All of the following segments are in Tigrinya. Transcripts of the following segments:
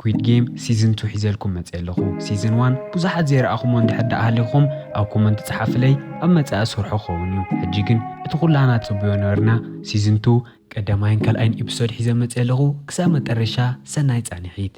Quid Game Season Two ሒዘልኩም መጽየ ኣለኹ Season One ብዙሓት ዘይረኣኹሞ እንድሕር ደኣ ሃሊኹም ኣብ ኮመንት ጽሓፍለይ ኣብ መጻኢ እሰርሖ ክኸውን እዩ ሕጂ ግን እቲ ኩላህና ጽቡዮ ነበርና Season Two ቀዳማይን ካልኣይን Episode ሒዘ መጽየ ኣለኹ ክሳብ መጠረሻ ሰናይ ጻኒሒት።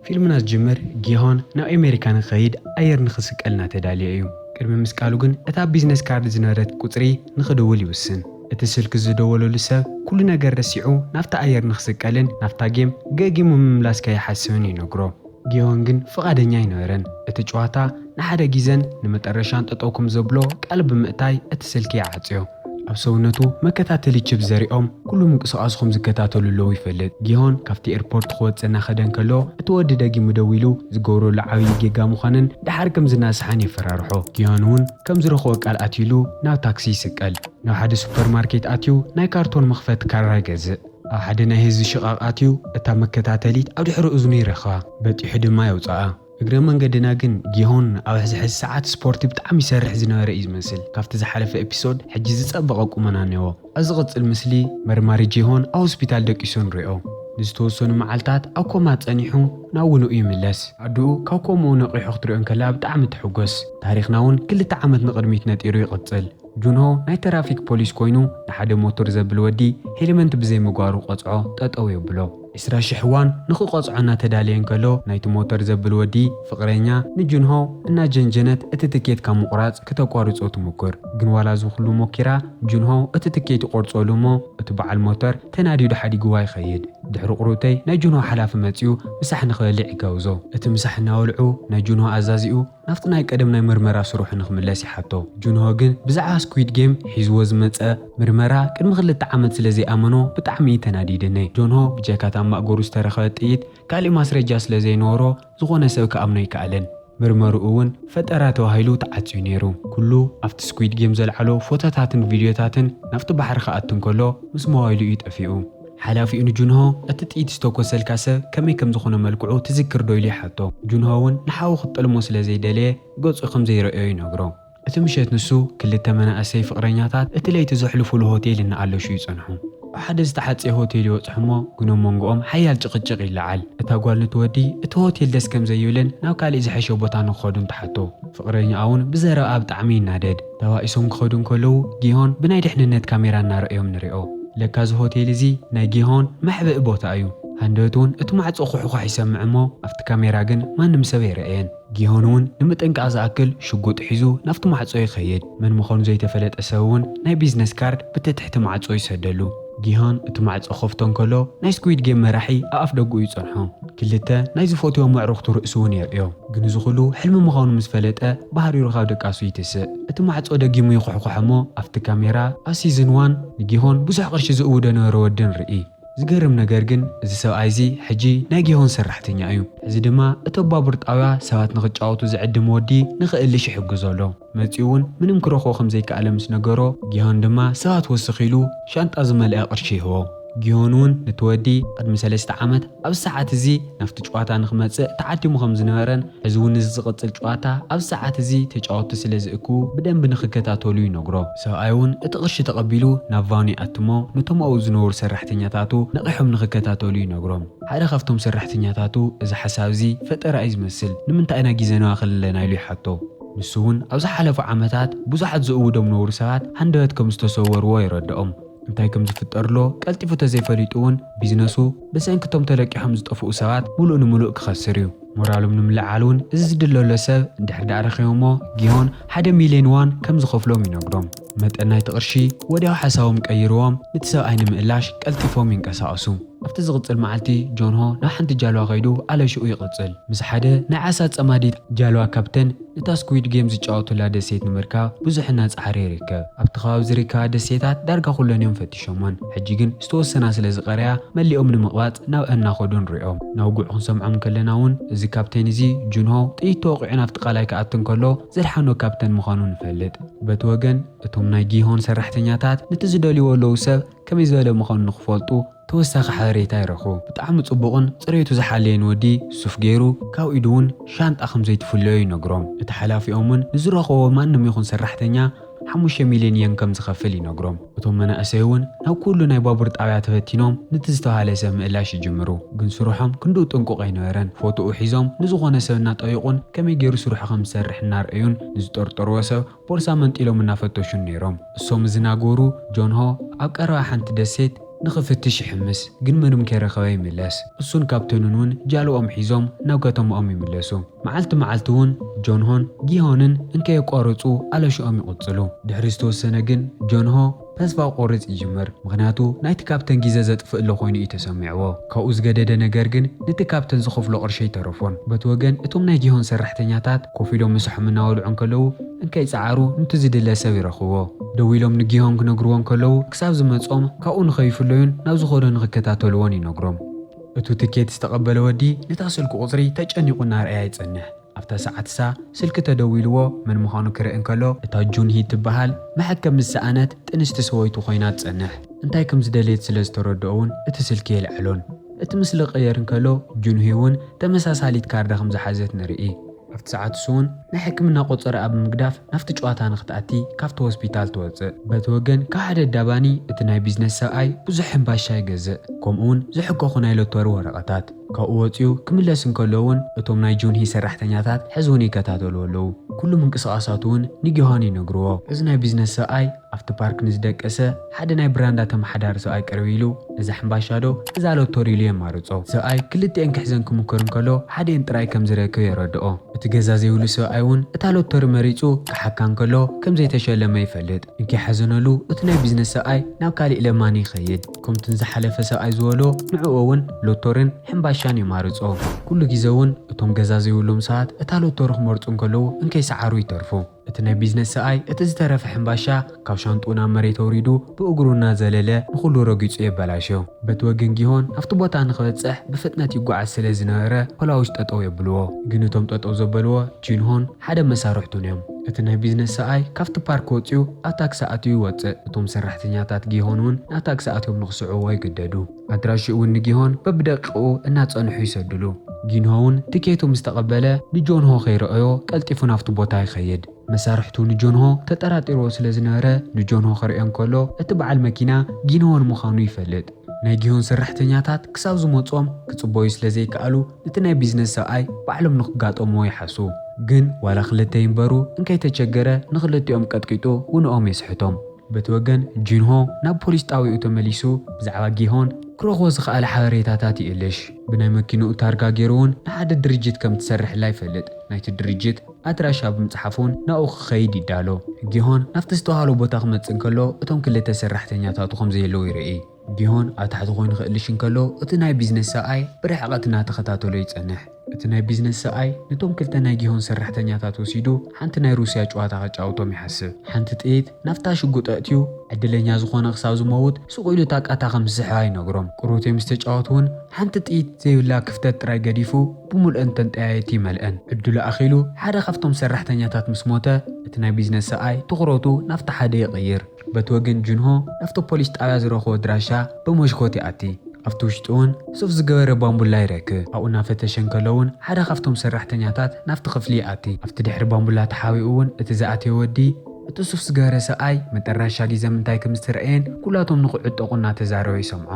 ፊልምና ዝጅምር ጊሆን ናብ ኣሜሪካ ንክኸይድ ኣየር ንክስቀል እናተዳልየ እዩ። ቅድሚ ምስቃሉ ግን እታ ኣብ ቢዝነስ ካርድ ዝነበረት ቁጽሪ ንክድውል ይውስን። እቲ ስልኪ ዝደወለሉ ሰብ ኩሉ ነገር ረሲዑ ናብታ ኣየር ንክስቀልን ናብታ ጌም ገጊሙ ምምላስ ከይሓስብን ይነግሮ። ጌዎን ግን ፍቓደኛ ኣይነበረን። እቲ ጭዋታ ንሓደ ጊዘን ንመጠረሻን ጠጠው ክም ዘብሎ ቃል ብምእታይ እቲ ስልኪ ይዓጽዮ። ኣብ ሰውነቱ መከታተሊ ቺፕ ዘሪኦም ኩሉ ምንቅስቓሱ ክም ዝከታተሉ ኣለው ይፈልጥ። ጌዎን ካብቲ ኤርፖርት ክወጽእ እናኸደ እንከሎ እቲ ወዲ ደጊሙ ደዊሉ ዝገብረሉ ዓብዪ ጌጋ ምዃንን ደሓር ክም ዝናሳሓን የፈራርሖ። ጌዎን እውን ከም ዝረኽቦ ቃል ኣትዩሉ ናብ ታክሲ ይስቀል። ናብ ሓደ ሱፐር ማርኬት ኣትዩ ናይ ካርቶን መኽፈቲ ካራ ይገዝእ። ኣብ ሓደ ናይ ህዝቢ ሽቓቕ ኣትዩ እታ መከታተሊት ኣብ ድሕሪ እዝኑ ይረኽባ፣ በጢሑ ድማ የውጽኣ። እግረ መንገድና ግን ጊሆን ኣብ ሕዚ ሕዚ ሰዓት ስፖርቲ ብጣዕሚ ይሰርሕ ዝነበረ እዩ ዝመስል ካብቲ ዝሓለፈ ኤፒሶድ ሕጂ ዝጸበቐ ቁመና እኔዎ። ኣብ ዝቕጽል ምስሊ መርማሪ ጂሆን ኣብ ሆስፒታል ደቂሱ ንሪኦ። ንዝተወሰኑ መዓልታት ኣብ ኮማ ጸኒሑ ናብ ውንኡ ይምለስ። ኣዱኡ ካብ ኮምኡ ነቒሑ ክትሪኦ እንከላ ብጣዕሚ ትሕጎስ። ታሪኽና እውን ክልተ ዓመት ንቕድሚት ነጢሩ ይቕጽል። ጁንሆ ናይ ተራፊክ ፖሊስ ኮይኑ ንሓደ ሞቶር ዘብል ወዲ ሄልመንት ብዘይ ምግባሩ ቆጽዖ ጠጠው የብሎ። ዕስራ ሽሕ ዋን ንክቆጽዖ እናተዳለየ እንከሎ ናይቲ ሞተር ዘብል ወዲ ፍቅረኛ ንጁንሆ እናጀንጀነት እቲ ትኬት ካብ ምቁራጽ ክተቋርጾ ትሙክር ግን ዋላ እዚ ኩሉ ሞኪራ ጁንሆ እቲ ትኬት ይቆርጾሉ እሞ እቲ በዓል ሞተር ተናዲዱ ሓዲግዋ ይከይድ ድሕሪ ቁርብተይ ናይ ጁንሆ ሓላፊ መጽዩ ምሳሕ ንክበልዕ ይጋብዞ እቲ ምሳሕ እናበልዑ ናይ ጁንሆ ኣዛዚኡ ናብቲ ናይ ቀደም ናይ ምርመራ ስርሑ ንኽምለስ ይሓቶ። ጁንሆ ግን ብዛዕባ ስኲድ ጌም ሒዝዎ ዝመጸ ምርመራ ቅድሚ ክልተ ዓመት ስለ ዘይኣመኖ ብጣዕሚ እዩ ተናዲደ። ን ጆንሆ ብጀካ እታ ኣብ ማእገሩ ዝተረኽበት ጥይት ካሊእ ማስረጃ ስለ ዘይነበሮ ዝኾነ ሰብ ክኣምኖ ኣይከኣለን። ምርመርኡ እውን ፈጠራ ተባሂሉ ተዓጽዩ ነይሩ። ኩሉ ኣብቲ ስኲድ ጌም ዘልዓሎ ፎቶታትን ቪድዮታትን ናብቲ ባሕሪ ክኣቱ እንከሎ ምስ ሞባይሉ እዩ ጠፊኡ። ሓላፊኡ ንጁንሆ፣ እቲ ጥይት ዝተኮሰልካ ሰብ ከመይ ከም ዝኾነ መልክዑ ትዝክር ዶ ኢሉ ይሓቶ። ጁንሆ እውን ንሓዉ ክጠልሞ ስለ ዘይደለየ ገጹ ከም ዘይረኣዮ ይነግሮ። እቲ ምሸት ንሱ፣ ክልተ መናእሰይ ፍቕረኛታት እቲ ለይቲ ዘሕልፉሉ ሆቴል እናኣለሹ ይጸንሑ። ኣብ ሓደ ዝተሓጽየ ሆቴል ይበጽሑ እሞ ግን ኣብ መንጎኦም ሓያል ጭቕጭቕ ይለዓል። እታ ጓል ኑቲ ወዲ እቲ ሆቴል ደስ ከም ዘይብልን ናብ ካልእ ዝሐሸ ቦታ ንክኸዱን ትሓቶ። ፍቕረኛኣ እውን ብዘረብኣ ብጣዕሚ ይናደድ። ተባኢሶም ክኸዱ እንከለዉ ጊሆን ብናይ ድሕንነት ካሜራ እናረኣዮም ንሪኦ። ለካ እዚ ሆቴል እዚ ናይ ጊሆን መሕብኢ ቦታ እዩ። ሃንደበት እውን እቲ ማዕጾ ኹሕዃሕ ይሰምዕ እሞ ኣብቲ ካሜራ ግን ማንም ሰብ ኣይረኣየን። ጊሆን እውን ንምጥንቃቕ ዝኣክል ሽጉጥ ሒዙ ናብቲ ማዕጾ ይኸይድ። መን ምዃኑ ዘይተፈለጠ ሰብ እውን ናይ ቢዝነስ ካርድ ብቲ ትሕቲ ማዕጾ ይሰደሉ። ጊሆን እቲ ማዕጾ ክኸፍቶ እንከሎ፣ ናይ ስኲዊድ ጌም መራሒ ኣብ ኣፍደግኡ ይጸንሖ። ክልተ፣ ናይ ዝፈትዎም ኣዕሩኽቱ ርእሲ'ውን የርእዮ። ግን እዚ ኹሉ ሕልሚ ምዃኑ ምስ ፈለጠ፣ ብሃሪሩ ካብ ድቃሱ ይትስእ። እቲ ማዕጾ ደጊሙ ይኹሕኩሕ'ሞ ኣብቲ ካሜራ፣ ኣብ ሲዝን ዋን ንጊሆን ብዙሕ ቅርሺ ዝእውዶ ነበረ ወዲ ንርኢ። ዝገርም ነገር ግን እዚ ሰብኣይ'ዚ ሕጂ ናይ ጊሆን ሰራሕተኛ እዩ። ሕዚ ድማ እቲ ኣብ ባቡር ጣብያ ሰባት ንኽጫወቱ ዝዕድም ወዲ ንኽእልሽ ይሕግዞ ኣሎ። መጺኡ እውን ምንም ክረኽቦ ከም ዘይከኣለ ምስ ነገሮ፣ ጊሆን ድማ ሰባት ወስኽ ኢሉ ሻንጣ ዝመልኣ ቅርሺ ይህቦ። ጊሆን እውን ነቲ ወዲ ቅድሚ ሰለስተ ዓመት ኣብዚ ሰዓት እዚ ናብቲ ጨዋታ ንኽመጽእ ተዓዲሙ ከም ዝነበረን ሕዚ እውን እዚ ዝቕጽል ጨዋታ ኣብዚ ሰዓት እዚ ተጫወትቲ ስለ ዝእክቡ ብደንቢ ንኽከታተሉ ይነግሮ። ሰብኣይ እውን እቲ ቅርሺ ተቐቢሉ ናብ ቫኑ ይኣትሞ ነቶም ኣብኡ ዝነበሩ ሰራሕተኛታቱ ነቒሖም ንኽከታተሉ ይነግሮም። ሓደ ካብቶም ሰራሕተኛታቱ እዚ ሓሳብ እዚ ፈጠራ እዩ ዝመስል ንምንታይ ኢና ጊዘና ክልለና ኢሉ ይሓቶ። ንሱ'ውን ኣብ ዝሓለፉ ዓመታት ብዙሓት ዝእውዶም ነውሪ ሰባት ሃንደበት ከም ዝተሰወርዎ የረድኦም። እንታይ ከም ዝፍጠርሎ ቀልጢፉ ተዘይፈሊጡ'ውን ቢዝነሱ ብሰንኪ እቶም ተለቂሖም ዝጠፍኡ ሰባት ምሉእ ንምሉእ ክኸስር እዩ። ሞራሎም ንምልዕዓል'ውን እዚ ዝድለሎ ሰብ እንድሕር ደኣ ረኺቦምዎ ጊሆን ሓደ ሚልዮን ዋን ከም ዝኸፍሎም ይነግሮም። መጠን ናይቲ ቅርሺ ወዲያው ሓሳቦም ቀይርዎም ንቲ ሰብኣይ ንምእላሽ ቀልጢፎም ይንቀሳቐሱ። ኣብቲ ዝቕጽል መዓልቲ ጆንሆ ናብ ሓንቲ ጃልዋ ከይዱ ኣለሽኡ ይቕጽል። ምስ ሓደ ናይ ዓሳ ጸማዲት ጃልዋ ካፕተን እታ ስኩዊድ ጌም ዝጫወቱላ ደሴት ንምርካብ ብዙሕ እናጸዓረ ይርከብ። ኣብቲ ከባቢ ዝርከባ ደሴታት ዳርጋ ኩለን እዮም ፈቲሾመን። ሕጂ ግን ዝተወሰና ስለ ዝቐረያ መሊኦም ንምቕባጽ ናብኣን እናኸዱ ንሪኦም። ናውግዑ ክንሰምዖም እንከለና እውን እዚ ካፕተን እዚ ጁንሆ ጥይት ተወቒዑ ናብቲ ቃላይ ክኣቱ እንከሎ፣ ዘድሓኖ ካፕተን ምዃኑ ንፈልጥ። በቲ ወገን እቶም ናይ ጊሆን ሰራሕተኛታት ነቲ ዝደልይዎ ለዉ ሰብ ከመይ ዝበለ ምዃኑ ንኽፈልጡ ተወሳኺ ሓበሬታ ይረኽቡ። ብጣዕሚ ጽቡቕን ጽሬቱ ዝሓለየን ወዲ ሱፍ ገይሩ ካብ ኢዱ ውን ሻንጣ ከምዘይትፍለዮ ይነግሮም። እቲ ሓላፊኦም ውን ንዝረኸቦ ማንም ይኹን ሰራሕተኛ፣ ሓሙሽተ ሚልዮን የን ከም ዝኸፍል ይነግሮም። እቶም መናእሰይ እውን ናብ ኩሉ ናይ ባቡር ጣብያ ተበቲኖም ንቲ ዝተውሃለ ሰብ ምእላሽ ይጅምሩ። ግን ስርሖም ክንድኡ ጥንቁቕ ኣይነበረን። ፎቶኡ ሒዞም ንዝኾነ ሰብ እናጠየቑን ከመይ ገይሩ ስርሑ ከም ዝሰርሕ እናርኣዩን ንዝጠርጠርዎ ሰብ ቦርሳ መንጢሎም እናፈተሹን ነይሮም። እሶም እዚ ናገሩ ጆንሆ ኣብ ቀረባ ሓንቲ ደሴት ንኽፍትሽ ይሕምስ። ግን ምንም ከይረኸበ ይምለስ። እሱን ካፕተኑን እውን ጃልባኦም ሒዞም ናብ ከተማኦም ይምለሱ። መዓልቲ መዓልቲ'ውን ጆንሆን ጊሆንን እንከየቋረጹ ኣለሽኦም ይቕጽሉ። ድሕሪ ዝተወሰነ ግን ጆንሆ ተስፋ ክቖርጽ ይጅምር፣ ምኽንያቱ ናይቲ ካፕተን ጊዘ ዘጥፍእሉ ኮይኑ እዩ ተሰሚዕዎ። ካብኡ ዝገደደ ነገር ግን ንቲ ካፕተን ዝኸፍሎ ቅርሺ ኣይተረፎን። በቲ ወገን እቶም ናይ ጊሆን ሰራሕተኛታት ኮፍ ኢሎም ምሳሖም እናበልዑ እንከለዉ እንከይጸዓሩ ንቲ ዝድለ ሰብ ይረኽብዎ። ደዊሎም ንጊሆን ክነግርዎ እንከለዉ ክሳብ ዝመጽኦም ካብኡ ንኸይፍለዩን ናብ ዝኸዶ ንኽከታተልዎን ይነግሮም። እቱ ትኬት ዝተቐበለ ወዲ ነታ ስልኩ ቁፅሪ ተጨኒቑ እናርኣያ ይፀንሕ። ኣብታ ሰዓት እሳ ስልኪ ተደዊልዎ መን ምዃኑ ክርኢ እንከሎ እታ ጁን ሂ ትበሃል መሐከም ምስ ሰኣነት ጥንስቲ ሰወይቱ ኮይና ትፀንሕ። እንታይ ከም ዝደለየት ስለ ዝተረድኦ እውን እቲ ስልኪ የልዕሎን። እቲ ምስሊ ክቕየር እንከሎ ጁን ሂ እውን ተመሳሳሊት ካርዳ ከም ዝሓዘት ንርኢ። ኣብቲ ሰዓት ንሱ'ውን ናይ ሕክምና ቆጸራኣ ብምግዳፍ ናብቲ ጨዋታ ንኽትኣቲ ካብቲ ሆስፒታል ትወጽእ። በቲ ወገን ካብ ሓደ ኣዳባኒ እቲ ናይ ቢዝነስ ሰብኣይ ብዙሕ ሕምባሻ ይገዝእ፣ ከምኡ'ውን ዝሕከኹ ናይ ሎተሪ ወረቐታት። ካብኡ ወጺኡ ክምለስ እንከሎ'ውን እቶም ናይ ጁንሂ ሰራሕተኛታት ሕዚ'ውን ይከታተልዎ ኣለዉ፣ ኩሉ ምንቅስቓሳቱ'ውን ንጊዮሃን ይነግርዎ። እዚ ናይ ቢዝነስ ሰብኣይ። ኣብቲ ፓርክ ንዝደቀሰ ሓደ ናይ ብራንዳ ተመሓዳሪ ሰብኣይ ቅርብ ኢሉ፣ እዛ ሕምባሻዶ እዛ ሎቶሪ ኢሉ የማርጾ። ሰብኣይ ክልቲኤን ክሕዘን ክሙክር እንከሎ ሓዲኤን ጥራይ ከም ዝረክብ የረድኦ። እቲ ገዛ ዘይብሉ ሰብኣይ እውን እታ ሎቶሪ መሪጹ ክሓካ እንከሎ ከም ዘይተሸለመ ይፈልጥ። እንከይሓዘነሉ እቲ ናይ ቢዝነስ ሰብኣይ ናብ ካሊእ ለማኒ ይኸይድ። ከምቲ ንዝሓለፈ ሰብኣይ ዝበሎ ንዕኡ እውን ሎቶሪን ሕምባሻን የማርጾ። ኩሉ ግዜ እውን እቶም ገዛ ዘይብሎም ሰባት እታ ሎቶሪ ክመርጹ እንከለዉ እንከይሰዓሩ ይተርፉ። እቲ ናይ ቢዝነስ ሰኣይ እቲ ዝተረፈ ሕምባሻ ካብ ሻንጥኡ ናብ መሬት ኣውሪዱ ብእግሩ እናዘለለ ንኹሉ ረጊጹ የበላሾ። በቲ ወገን ጊሆን ናብቲ ቦታ ንኽበጽሕ ብፍጥነት ይጓዓዝ ስለ ዝነበረ ፖላውስ ጠጠው የብልዎ። ግን እቶም ጠጠው ዘበልዎ ጂንሆን ሓደ መሳርሕቱን እዮም። እቲ ናይ ቢዝነስ ሰኣይ ካብቲ ፓርክ ወጺኡ ኣብ ታክሲ ኣትዩ ይወጽእ። እቶም ሰራሕተኛታት ጊሆን እውን ናብ ታክሲ ኣትዮም ንኽስዕብዎ ይግደዱ። ኣድራሽኡ'ውን ንጊሆን በብደቂቑ እናጸንሑ ይሰዱሉ። ጊንሆ'ውን ትኬቱ ምስ ተቐበለ ንጆንሆ ከይረኣዮ ቀልጢፉ ናብቲ ቦታ ይኸይድ። መሳርሕቱ ንጆንሆ ተጠራጢርዎ ስለ ዝነበረ ንጆንሆ ክርእዮ እንከሎ እቲ በዓል መኪና ጊንሆን ምዃኑ ይፈልጥ። ናይ ጊሆን ሰራሕተኛታት ክሳብ ዝመጽኦም ክጽበዩ ስለ ዘይከኣሉ ነቲ ናይ ቢዝነስ ሰብኣይ ባዕሎም ንክጋጠምዎ ይሓሱ። ግን ዋላ ክልተ ይንበሩ እንከይተቸገረ ንኽልቲኦም ቀጥቂጡ ውንኦም የስሕቶም። በቲ ወገን ጂንሆ ናብ ፖሊስ ጣብያኡ ተመሊሱ ብዛዕባ ጊሆን ክረኽቦ ዝኸኣለ ሓበሬታታት ይእልሽ። ብናይ መኪንኡ ታርጋ ገይሩ'ውን ንሓደ ድርጅት ከም ትሰርሕላ ይፈልጥ። ናይቲ ድርጅት ኣድራሻ ብምጽሓፍ'ውን ናብኡ ክኸይድ ይዳሎ። ጊሆን ናብቲ ዝተባህሎ ቦታ ክመጽእ እንከሎ እቶም ክልተ ሰራሕተኛታቱ ከም ዘየለዉ ይርኢ። ጊሆን ኣብ ታሕቲ ኮይኑ ክእልሽ እንከሎ፣ እቲ ናይ ቢዝነስ ሰብኣይ ብርሕቐት እናተኸታተሎ ይጸንሕ። እቲ ናይ ቢዝነስ ሰብኣይ ነቶም ክልተ ናይ ጊሆን ሰራሕተኛታት ወሲዱ ሓንቲ ናይ ሩስያ ጭዋታ ከጫውቶም ይሓስብ። ሓንቲ ጥይት ናብታ ሽጉጥ ኣእትዩ፣ ዕድለኛ ዝኾነ ክሳብ ዝመውት ሱቕ ኢሉ እታ ቃታ ከም ዝስሕባ ይነግሮም። ቅሩቴ ምስ ተጫወቱ እውን ሓንቲ ጥይት ዘይብላ ክፍተት ጥራይ ገዲፉ ብምሉእን ተንጠያየቲ ይመልእን። ዕድሉ ኣኺሉ ሓደ ካብቶም ሰራሕተኛታት ምስ ሞተ፣ እቲ ናይ ቢዝነስ ሰብኣይ ትኹረቱ ናብቲ ሓደ ይቕይር። በቲ ወገን ጁንሆ ናብቲ ፖሊስ ጣብያ ዝረኽቦ ኣድራሻ ብመሽኮት ይኣቲ። ኣብቲ ውሽጢ'ውን ሱፍ ዝገበረ ባንቡላ ይረክ። ኣብኡ እናፈተሸ እንከሎ'ውን ሓደ ካብቶም ሰራሕተኛታት ናብቲ ክፍሊ ይኣቲ። ኣብቲ ድሕሪ ባንቡላ ተሓቢኡ'ውን እቲ ዝኣተየ ወዲ እቲ ሱፍ ዝገበረ ሰብኣይ መጠራሻ ጊዘም እንታይ ከም ዝተረኣየን ኩላቶም ንክዕጠቑ እናተዛረበ ይሰምዖ።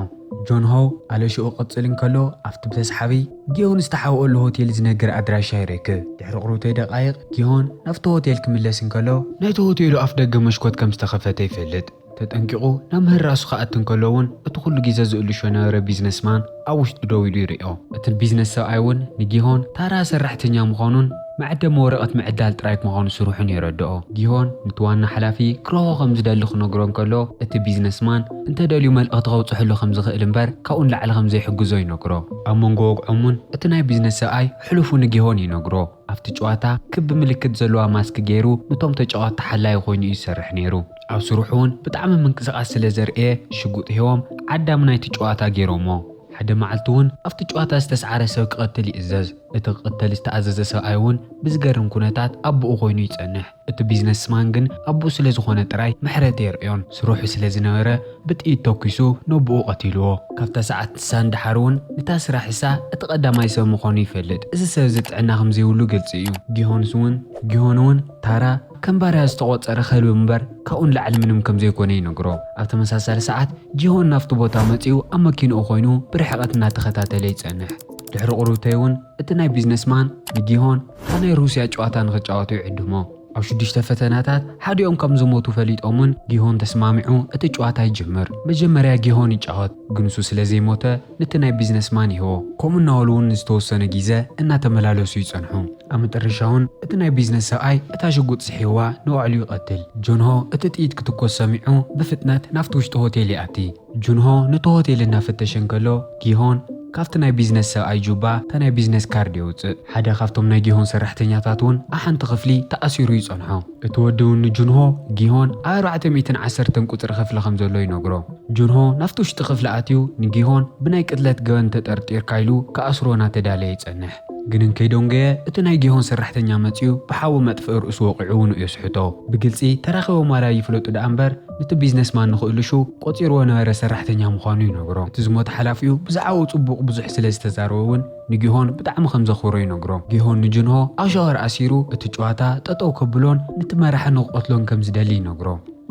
ጆንሆ ኣለሽኡ ክቕጽል እንከሎ ኣብቲ ብተስሓቢ። ጊዮን ዝተሓብኦሉ ሆቴል ዝነግር ኣድራሻ ይረክብ። ድሕሪ ቁሩብተይ ደቓይቕ ጊዮን ናብቲ ሆቴል ክምለስ እንከሎ፣ ናይቲ ሆቴሉ ኣፍደገ መሽኮት ከም ዝተኸፈተ ይፈልጥ። ተጠንቂቑ ናብ ምህራሱ ክኣቲ እንከሎ እውን እቲ ኩሉ ግዜ ዝእልሾ ዝነበረ ቢዝነስማን ኣብ ውሽጢ ደው ኢሉ ይሪኦ። እቲ ቢዝነስ ሰብኣይ እውን ንጊዮን ታራ ሰራሕተኛ ምዃኑን፣ መዐደሚ ወረቐት ምዕዳል ጥራይ ምዃኑ ስርሑን የረድኦ። ጊሆን ነቲ ዋና ሓላፊ ክረኽቦ ከም ዝደሊ ክነግሮ እንከሎ፣ እቲ ቢዝነስማን እንተ ደልዩ መልእኽቲ ከብጽሐሉ ከም ዝኽእል እምበር ካብኡ ንላዕሊ ከም ዘይሕግዞ ይነግሮ። ኣብ መንጎ ወግዖም'ውን እቲ ናይ ቢዝነስ ሰብኣይ ሕሉፉ ንጊሆን ይነግሮ። ኣብቲ ጭዋታ ክቢ ምልክት ዘለዋ ማስክ ገይሩ ንቶም ተጫወትቲ ሓላዪ ኮይኑ እዩ ዝሰርሕ ነይሩ። ኣብ ስርሑ'ውን ብጣዕሚ ምንቅስቓስ ስለ ዘርእየ ሽጉጥ ሂቦም ዓዳሚ ናይቲ ጭዋታ ገይሮምዎ። ሓደ መዓልቲ'ውን ኣብቲ ጭዋታ ዝተስዓረ ሰብ ክቐትል ይእዘዝ። እቲ ክቕተል ዝተኣዘዘ ሰብኣይ እውን ብዝገርም ኩነታት ኣቡኡ ኮይኑ ይጸንሕ። እቲ ቢዝነስማን ግን ኣቡኡ ስለ ዝኾነ ጥራይ ምሕረት ኣየርእዮን። ስርሑ ስለ ዝነበረ ብጥይት ተኲሱ ነቡኡ ቀቲልዎ። ካብታ ሰዓት ንሳ ንደሓር እውን ንታ ስራሕሳ እቲ ቀዳማይ ሰብ ምኾኑ ይፈልጥ። እዚ ሰብ እዚ ጥዕና ከም ዘይብሉ ግልጺ እዩ። ጊሆንስ እውን ጊሆን እውን ታራ ከም ባርያ ዝተቖጸረ ከልቢ እምበር ካብኡ ንላዕሊ ምንም ከም ዘይኮነ ይነግሮ። ኣብ ተመሳሳሊ ሰዓት ጊሆን ናብቲ ቦታ መጺኡ ኣብ መኪንኡ ኮይኑ ብርሕቐት እናተኸታተለ ይጸንሕ። ድሕሪ ቁርብተይ እውን እቲ ናይ ቢዝነስ ማን ንጊሆን ኣብ ናይ ሩስያ ጨዋታ ንክጫወቱ ይዕድሞ። ኣብ ሽዱሽተ ፈተናታት ሓዲኦም ከም ዝሞቱ ፈሊጦም እውን ጊሆን ተስማሚዑ እቲ ጨዋታ ይጅምር። መጀመርያ ጊሆን ይጫወት ግን እሱ ስለ ዘይሞተ ንቲ ናይ ቢዝነስ ማን ይህቦ። ከምኡ እናበሉ እውን ንዝተወሰነ ጊዘ እናተመላለሱ ይፀንሑ። ኣብ መጠረሻ እውን እቲ ናይ ቢዝነስ ሰብኣይ እታ ሽጉጥ ስሒብዋ ንባዕሉ ይቀትል። ጆንሆ እቲ ጥይት ክትኮስ ሰሚዑ ብፍጥነት ናብቲ ውሽጢ ሆቴል ይኣቲ። ጁንሆ ነቲ ሆቴል እናፈተሸ እንከሎ፣ ጊሆን ካብቲ ናይ ቢዝነስ ሰብኣይ ጁባ እታ ናይ ቢዝነስ ካርድ የውጽእ። ሓደ ካብቶም ናይ ጊሆን ሰራሕተኛታት እውን ኣብ ሓንቲ ክፍሊ ተኣሲሩ ይጸንሖ። እቲ ወዲ እውን ንጁንሆ፣ ጊሆን ኣብ ኣርባዕተ ሚእትን ዓሰርተን ቁጽሪ ክፍሊ ከም ዘሎ ይነግሮ። ጁንሆ ናብቲ ውሽጢ ክፍሊ ኣትዩ ንጊሆን ብናይ ቅትለት ገበን ተጠርጢርካ ኢሉ ክኣስሮ እናተዳለየ ይጸንሕ። ግን እንከይ ዶንገየ እቲ ናይ ጊሆን ሰራሕተኛ መጺኡ ብሓዊ መጥፍኢ ርእሱ ወቒዑ ውንኡ የስሕቶ። ብግልጺ ተራኺቦም ዋላ ይፍለጡ ደኣ እምበር፣ ነቲ ቢዝነስማን ንክእልሹ ቆጺርዎ ነበረ ሰራሕተኛ ምዃኑ ይነግሮ። እቲ ዝሞተ ሓላፊኡ ብዛዕባኡ ጽቡቕ ብዙሕ ስለ ዝተዛረበ እውን ንጊሆን ብጣዕሚ ከም ዘኽብሮ ይነግሮ። ጊሆን ንጁንሆ ኣብ ሻወር ኣሲሩ እቲ ጭዋታ ጠጠው ከብሎን ነቲ መራሒ ንክቐትሎን ከም ዝደሊ ይነግሮ።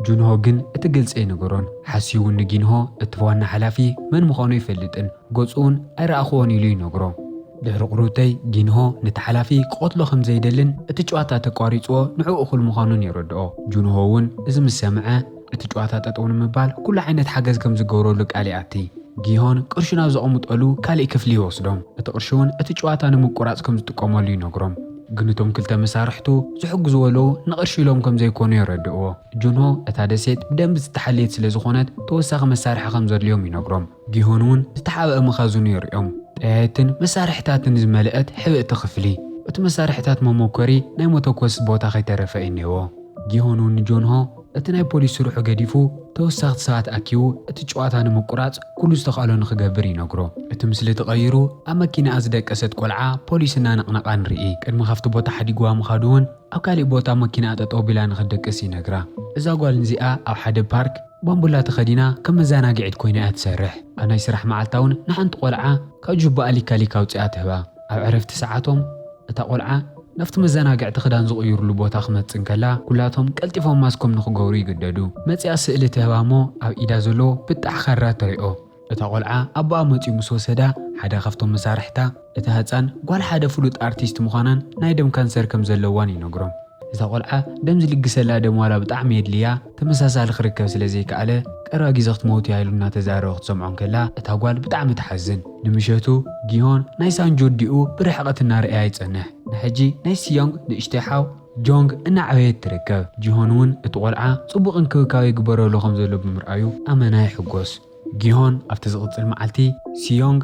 ጁንሆ ግን እቲ ግልጺ ኣይነገሮን። ሓሲዩ እውን ንጊንሆ እቲ ዋና ሓላፊ መን ምዃኑ ኣይፈልጥን፣ ገጹ እውን ኣይረኣኹዎን ኢሉ ይነግሮ። ድሕሪ ቁርብተይ ጂንሆ ነቲ ሓላፊ ክቐትሎ ከም ዘይደልን እቲ ጨዋታ ተቋሪጽዎ ንዕኡ እኹል ምዃኑን የረድኦ። ጁንሆ እውን እዚ ምስ ሰምዐ፣ እቲ ጨዋታ ጠጠው ንምባል ኩሉ ዓይነት ሓገዝ ከም ዝገብረሉ ቃል ይኣቲ። ጊሆን ቅርሹ ናብ ዘቐምጠሉ ካልእ ክፍሊ ይወስዶም፣ እቲ ቅርሺ እውን እቲ ጨዋታ ንምቁራጽ ከም ዝጥቀመሉ ይነግሮም። ግን እቶም ክልተ መሳርሕቱ ዝሕግዝዎ ኣለዉ፣ ንቕርሺ ኢሎም ከም ዘይኮኑ የረድእዎ። ጁንሆ እታ ደሴት ብደንቢ ዝተሓለየት ስለ ዝኾነት ተወሳኺ መሳርሒ ከም ዘድልዮም ይነግሮም። ጊሆን እውን ዝተሓብኣ መኻዝኑ የርእዮም። ጠያይትን መሳርሒታትን ዝመልእት ሕብእቲ ክፍሊ። እቲ መሳርሒታት መሞከሪ ናይ መተኮሲ ቦታ ከይተረፈ እዩ እኔዎ። ጊሆን እውን ንጆንሆ እቲ ናይ ፖሊስ ስርሑ ገዲፉ ተወሳኽቲ ሰባት ኣኪቡ እቲ ጭዋታ ንምቁራጽ ኩሉ ዝተኽእሎ ንክገብር ይነግሮ። እቲ ምስሊ ተቐይሩ ኣብ መኪናኣ ዝደቀሰት ቆልዓ ፖሊስ እናነቕነቓ ንርኢ። ቅድሚ ካብቲ ቦታ ሓዲግዋ ምኻዱ እውን ኣብ ካሊእ ቦታ መኪናኣ ጠጠው ኣቢላ ንክትድቅስ ይነግራ። እዛ ጓል ንዚኣ ኣብ ሓደ ፓርክ። ባምቡላ ተኸዲና ከም መዛናግዒት ኮይና እያ ትሰርሕ። ኣብ ናይ ስራሕ መዓልታ እውን ንሓንቲ ቆልዓ ካብ ጁባኣ ሊካ ሊካ ኣውጺኣ ትህባ። ኣብ ዕረፍቲ ሰዓቶም እታ ቆልዓ ናብቲ መዛናግዕቲ ክዳን ዝቕይሩሉ ቦታ ክመጽእ እንከላ ኩላቶም ቀልጢፎም ማስኮም ንክገብሩ ይግደዱ። መጺኣ ስእሊ ትህባ እሞ ኣብ ኢዳ ዘሎ ብጣዕ ካራ ትሪኦ። እታ ቆልዓ ኣቦኣ መጺኡ ምስ ወሰዳ ሓደ ካብቶም መሳርሕታ፣ እታ ህጻን ጓል ሓደ ፍሉጥ ኣርቲስት ምዃናን ናይ ደም ካንሰር ከም ዘለዋን ይነግሮም። እታ ቆልዓ ደም ዝልግሰላ ደም ዋላ ብጣዕሚ የድልያ ተመሳሳሊ ክርከብ ስለ ዘይከኣለ ቀረባ ግዜ ክትመውት እያ ኢሉ እናተዛረበ ክትሰምዖ እንከላ እታ ጓል ብጣዕሚ ትሓዝን። ንምሸቱ ጊሆን ናይ ሳንጁርዲኡ ብርሕቐት እናረኣያ ይጸንሕ። ንሕጂ ናይ ሲዮንግ ንእሽተይ ሓው፣ ጆንግ እናዕበየት ትርከብ። ጂሆን'ውን እቲ ቆልዓ ጽቡቕ እንክብካብ ይግበረሉ ከም ዘሎ ብምርኣዩ ኣመና ይሕጎስ። ጊሆን ኣብቲ ዝቕጽል መዓልቲ፣ ሲዮንግ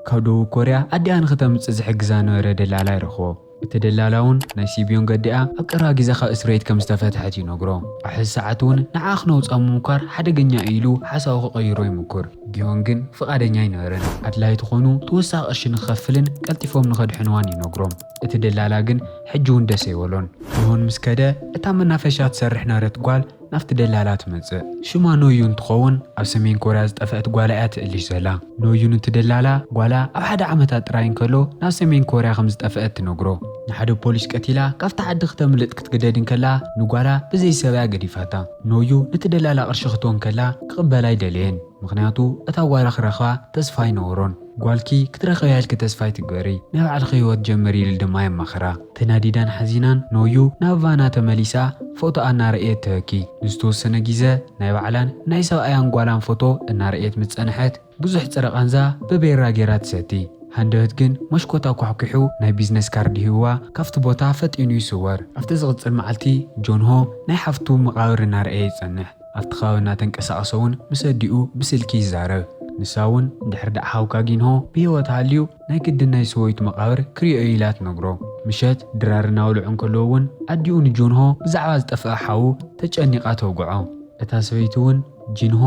ካብ ደቡብ ኮርያ ኣዲኣ ንኽተምጽእ ዝሕግዛ ዝነበረ ደላላ ይረኽቦ። እቲ ደላላ'ውን ናይ ሲብዮንግ ኣዲኣ ኣብ ቀረባ ግዜ ካብ እስርቤት ከም ዝተፈትሐት ይነግሮ። ኣብ ሕዚ ሰዓት'ውን ንዓኣ ክነውጻ ምሙኳር ሓደገኛ እዩ ኢሉ ሓሳቡ ክቕይሮ ይሙኩር። ጊሆን ግን ፍቓደኛ ኣይነበረን። ኣድላዪ ተኾይኑ ተወሳኺ ቅርሺ ንኽኸፍልን ቀልጢፎም ንኸድሕንዋን ይነግሮም። እቲ ደላላ ግን ሕጂ ውን ደስ ኣይበሎን። ጆን ምስ ከደ እታ መናፈሻ ትሰርሕ ነረት ጓል ናብቲ ደላላ ትመጽእ። ሽማ ኖዩ እንትኸውን ኣብ ሰሜን ኮርያ ዝጠፈእት ጓላ እያ ትእልሽ ዘላ። ኖዩ ንቲ ደላላ ጓላ ኣብ ሓደ ዓመታ ጥራይ እንከሎ ናብ ሰሜን ኮርያ ከም ዝጠፈእት ትነግሮ። ንሓደ ፖሊስ ቀቲላ ካብቲ ዓዲ ክተምልጥ ክትግደድ እንከላ ንጓላ ብዘይ ሰብ እያ ገዲፋታ። ኖዩ ንቲ ደላላ ቅርሺ ክትቦ እንከላ ክቕበላ ኣይደለየን ምኽንያቱ እታ ጓላ ክረኽባ ተስፋ ኣይነበሮን። ጓልኪ ክትረኽብያ ኢልኪ ተስፋ ኣይትግበሪ፣ ናይ ባዕልኺ ህይወት ጀምሪ ኢሉ ድማ የማኽራ። ተናዲዳን ሓዚናን ኖዩ ናብ ቫና ተመሊሳ ፎቶኣ እናረእየት ተበኪ። ንዝተወሰነ ጊዘ ናይ ባዕላን ናይ ሰብኣያን ጓላን ፎቶ እናረእየት ምስ ፀንሐት ብዙሕ ፅረ ቃንዛ በቤራ ገይራ ትሰቲ። ሃንደበት ግን መሽኮት ኣኳሕኲሑ ናይ ቢዝነስ ካርድ ሂብዋ ካፍቲ ቦታ ፈጢኑ ይስወር። ኣብቲ ዝቕፅል መዓልቲ ጆንሆ ናይ ሓፍቱ መቓብር እናረእየ ይፀንሕ። ኣብቲ ከባቢ እናተንቀሳቐሰ እውን ምስ ኣዲኡ ብስልኪ ይዛረብ። ንሳ እውን እንድሕር ደኣ ሓውካ ጊንሆ ብህይወት ሃልዩ ናይ ግድን ናይ ሰበይቱ መቓብር ክሪኦ እዩ ኢላ ትነግሮ። ምሸት ድራር እናበልዑ እንከለዉ እውን ኣዲኡ ንጆንሆ ብዛዕባ ዝጠፍኣ ሓዉ ተጨኒቓ ተውግዖ። እታ ሰበይቲ እውን ጂንሆ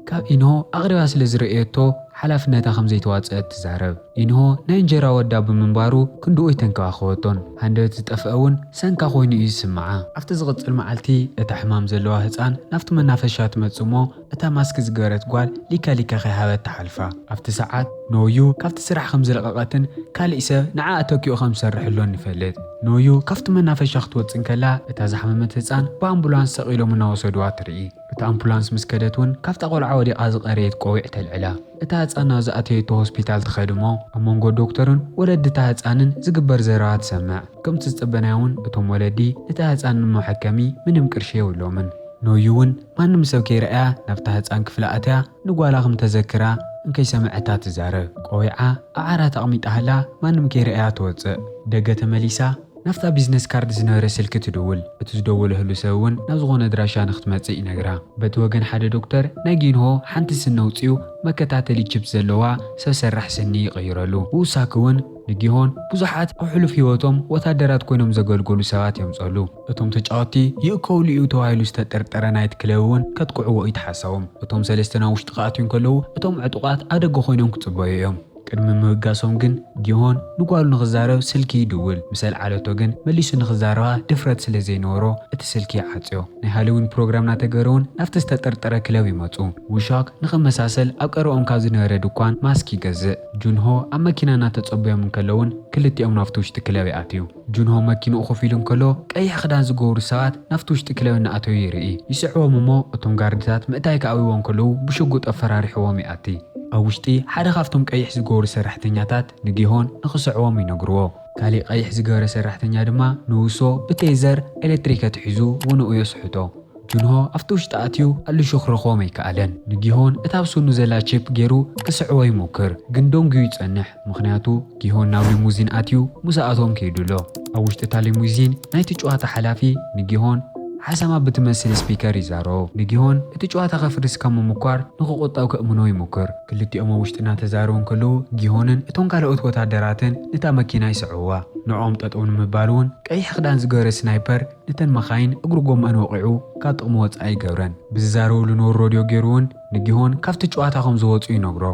ካብ ኢንሆ ኣቕሪባ ስለ ዝረእየቶ ሓላፍነታ ከም ዘይተዋጽኣት ትዛረብ። ኢንሆ ናይ እንጀራ ወዳ ብምንባሩ ክንድኡ ኣይተንከባኸበቶን። ሃንደበት ዝጠፍአ እውን ሰንካ ኮይኑ እዩ ዝስምዓ። ኣብቲ ዝቕጽል መዓልቲ እታ ሕማም ዘለዋ ህጻን ናብቲ መናፈሻ ትመጽእ እሞ እታ ማስክ ዝገበረት ጓል ሊካ ሊካ ከይሃበት ትሓልፋ። ኣብቲ ሰዓት ኖዩ ካብቲ ስራሕ ከም ዝለቐቐትን ካልእ ሰብ ንዓኣ ተኪኡ ከም ዝሰርሕሎን ንፈልጥ። ኖዩ ካብቲ መናፈሻ ክትወጽእ እንከላ እታ ዝሓመመት ህጻን ብኣምቡላንስ ሰቒሎም እናወሰዱዋ ትርኢ። እታ ኣምፑላንስ ምስ ከደት ውን ካብታ ቆልዓ ወዲቓ ዝቐረየት ቆቢዕ ተልዕላ። እታ ህጻን ናብ ዝኣተየቶ ሆስፒታል ትኸድ እሞ ኣብ መንጎ ዶክተርን ወለዲ እታ ህጻንን ዝግበር ዘረባ ትሰምዕ። ከምቲ ዝጸበናዮ ውን እቶም ወለዲ ነታ ህጻን ንመሐከሚ ምንም ቅርሺ የብሎምን። ኖዩ ውን ማንም ሰብ ከይረኣያ ናብታ ህጻን ክፍሊ ኣትያ ንጓላ ክም ተዘክራ እንከይሰመዐታ ትዛረብ። ቆቢዓ ኣብ ዓራት ኣቕሚጣ ሃላ ማንም ከይረኣያ ትወጽእ። ደገ ተመሊሳ። ናብታ ቢዝነስ ካርድ ዝነበረ ስልኪ ትድውል። እቲ ዝደወለህሉ ሰብ እውን ናብ ዝኾነ ኣድራሻ ንክትመጽእ ይነግራ። በቲ ወገን ሓደ ዶክተር ናይ ጊንሆ ሓንቲ ስኒ ኣውጺኡ መከታተሊ ቺፕ ዘለዋ ሰብ ሰራሕ ስኒ ይቕይረሉ። ብውሳኪ እውን ንጊሆን ብዙሓት ኣብ ሕሉፍ ህይወቶም ወታደራት ኮይኖም ዘገልገሉ ሰባት የምጸሉ። እቶም ተጫወቲ ይእከውሉ እዩ ተባሂሉ ዝተጠርጠረ ናይት ክለብ እውን ከጥቅዕዎ እዩ ተሓሳቦም። እቶም ሰለስተ ናብ ውሽጢ ክኣትዩ እንከለዉ እቶም ዕጡቓት ኣብ ደገ ኮይኖም ክጽበዩ እዮም። ቅድሚ ምብጋሶም ግን ጊሆን ንጓሉ ንኽዛረብ ስልኪ ይድውል። ምስ ኣልዓለቶ ግን መሊሱ ንኽዛረባ ድፍረት ስለ ዘይነበሮ እቲ ስልኪ ይዓጽዮ። ናይ ሃሎዊን ፕሮግራም እናተገበረ'ውን ናብቲ ዝተጠርጠረ ክለብ ይመጹ። ዉሻክ ንኽመሳሰል ኣብ ቀረብኦም ካብ ዝነበረ ድኳን ማስክ ይገዝእ። ጁንሆ ኣብ መኪና እናተጸበዮም እንከሎ'ውን ክልቲኦም ናብቲ ውሽጢ ክለብ ይኣትዩ። ጁንሆ መኪንኡ ኮፍ ኢሉ እንከሎ፣ ቀይሕ ክዳን ዝገብሩ ሰባት ናብቲ ውሽጢ ክለብ እናኣተዉ ይርኢ። ይስዕቦም እሞ እቶም ጋርድታት ምእታይ ክኣብይዎ እንከለዉ ብሽጉጥ ኣፈራሪሕዎም ይኣቲ። ኣብ ውሽጢ ሓደ ካብቶም ቀይሕ ዝገብሩ ሰራሕተኛታት ንጊሆን ንኽስዕቦም ይነግርዎ። ካሊእ ቀይሕ ዝገበረ ሰራሕተኛ ድማ ንውሶ ብቴዘር፣ ኤለትሪክ፣ ኣትሒዙ ውንኡ የስሕቶ። ጁንሆ ኣብቲ ውሽጢ ኣትዩ ኣልሹ ክረኽቦም ኣይከኣለን። ንጊሆን እታ ኣብ ስኑ ዘላ ቺፕ ገይሩ ክስዕቦ ይሞክር፣ ግን ደንጉዩ ይጸንሕ። ምኽንያቱ ጊሆን ናብ ሊሙዚን ኣትዩ ምስኣቶም ከይዱ ኣሎ። ኣብ ውሽጢ እታ ሊሙዚን ናይቲ ጭዋታ ሓላፊ ንጊሆን ሓሰማ ብትመስል ስፒከር ይዛረቦ። ንጊሆን እቲ ጭዋታ ከፍርስ ካብ ምሙኳር ንክቑጠብ ከእምኖ ይሙክር። ክልቲኦም ኣብ ውሽጢ እናተዛረቡ እንከለዉ ጊሆንን እቶም ካልኦት ወታደራትን ነታ መኪና ይስዕቡዋ። ንዕኦም ጠጠው ንምባል እውን ቀይሕ ክዳን ዝገበረ ስናይፐር ነተን መኻይን እግሪ ጎመኣን ወቒዑ ካብ ጥቕሚ ወፃኢ ይገብረን። ብዝዛረብሉ ኖር ሮድዮ ገይሩ እውን ንጊሆን ካብቲ ጨዋታ ከም ዝወጹ ይነግሮ።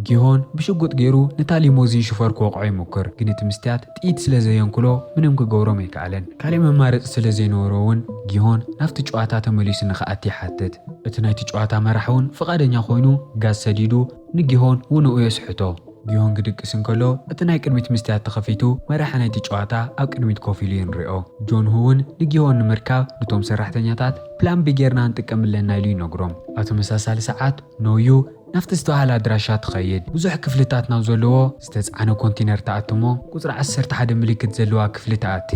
ጊሆን ብሽጉጥ ገይሩ ነታ ሊሞዚን ሽፈር ክወቕዖ ይሙክር፣ ግን እቲ ምስትያት ጥይት ስለ ዘየንክሎ ምንም ክገብሮም ኣይከኣለን። ካልእ መማረጺ ስለ ዘይነበሮ'ውን ጊሆን ናብቲ ጨዋታ ተመሊሱ ንኽኣቲ ይሓትት። እቲ ናይቲ ጨዋታ መራሒ'ውን ፍቓደኛ ኮይኑ ጋዝ ሰዲዱ ንጊሆን ውንኡ የስሕቶ። ጊዮን ክድቅስ እንከሎ፣ እቲ ናይ ቅድሚት መስትያት ተኸፊቱ መራሒ ናይቲ ጨዋታ ኣብ ቅድሚት ኮፍ ኢሉ ይንሪኦ። ጆን ሁ እውን ንጊዮን ንምርካብ ኑቶም ሰራሕተኛታት ፕላን ቢ ጌርና ንጥቀም ኣለና ኢሉ ይነግሮም። ኣብ ተመሳሳሊ ሰዓት ኖ ዩ ናብቲ ዝተባህለ ኣድራሻ ትኸይድ። ብዙሕ ክፍልታት ናብ ዘለዎ ዝተፅዓነ ኮንቲነር ትኣቲ እሞ ቁፅሪ ዓሰርተ ሓደ ምልክት ዘለዋ ክፍሊ ትኣቲ።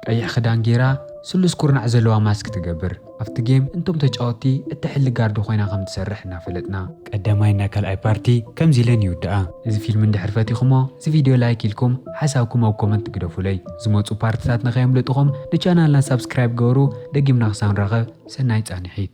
ቀይሕ ክዳን ጌራ ስሉስ ኩርናዕ ዘለዋ ማስክ ትገብር ኣብቲ ጌም እንቶም ተጫወቲ እትሕሊ ጋርዲ ኮይና ከም ትሰርሕ እናፈለጥና። ቀዳማይ እና ካልኣይ ፓርቲ ከምዚ ኢለን ይውዳኣ። እዚ ፊልም እንድሕር ፈቲኹሞ እዚ ቪድዮ ላይክ ኢልኩም ሓሳብኩም ኣብ ኮመንት ግደፉለይ ዝመጹ ፓርትታት ንከየምልጥኹም ንቻናልና ሳብስክራይብ ግበሩ ደጊምና ክሳብ ንራኸብ ሰናይ ጻኒሒት።